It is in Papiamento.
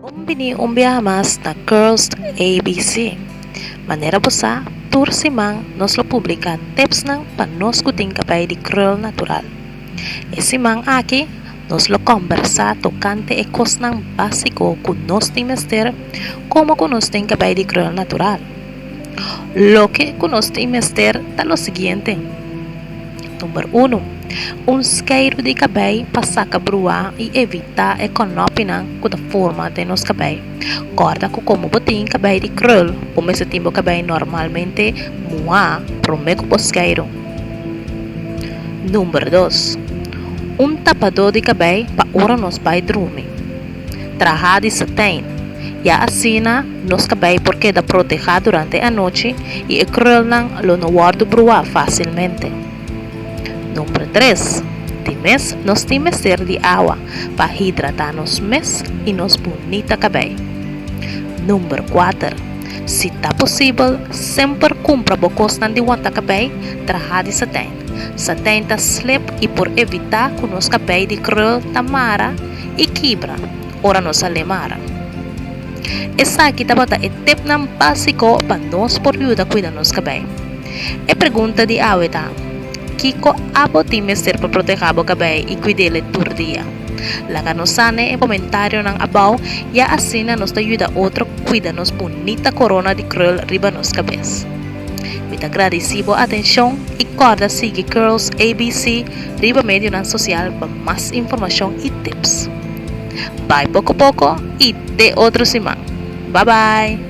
Bon bini un biaha mas na Curls ABC. Manera bo sa, tur siman nos lo publica tipsnan pa nos cu tin cabai di krul natural. E siman aki nos lo combersa tocante e cosnan basico cu nos tin mester como cu nos tin cabai di krul natural. Loke ku nos tin mester ta lo siguiente, Number unu, un skeidu di kabei pa saka bruá i evitá e konòpinan ku ta forma den nos kabei. Kòrda ku komo bo tin kabei di krul, bo mester tin bo kabei normalmente muhá promé ku bo skeidu. Number dos, un tapadó di kabei pa ora nos bai drumi. Trahá di satijn. Ya asina nos ta bai por keda protehá durante e anochi i e krulnan lo no wòrdu bruá fásilmente. Nomber tres, tin mes nos tin mester di awa pa hidratá nos mes i nos bunita kabei. Nomber kuater, si ta posibel, semper kumpra bo kosnan di wanta kabei trahá di satijn. Satijn ta slip i por evitá ku nos kabei di krul ta mara i kibra ora nos a lemara. Esaki tabata e tipnan básiko pa nos por yuda kuida nos kabei. E pregunta di awe ta, Kiko abo tin mester pa protehá bo kabei i kuid'é le tur dia? Laga nos sa n'e komentarionan abou i asina nos ta yuda otro kuida nos bunita korona di krul riba nos kabes. Mi ta gradisí bo atenshon i kòrda sigui Curls ABC riba medionan sosial pa mas informashon i tips. Bai poko poko i te otro siman. Bye bye!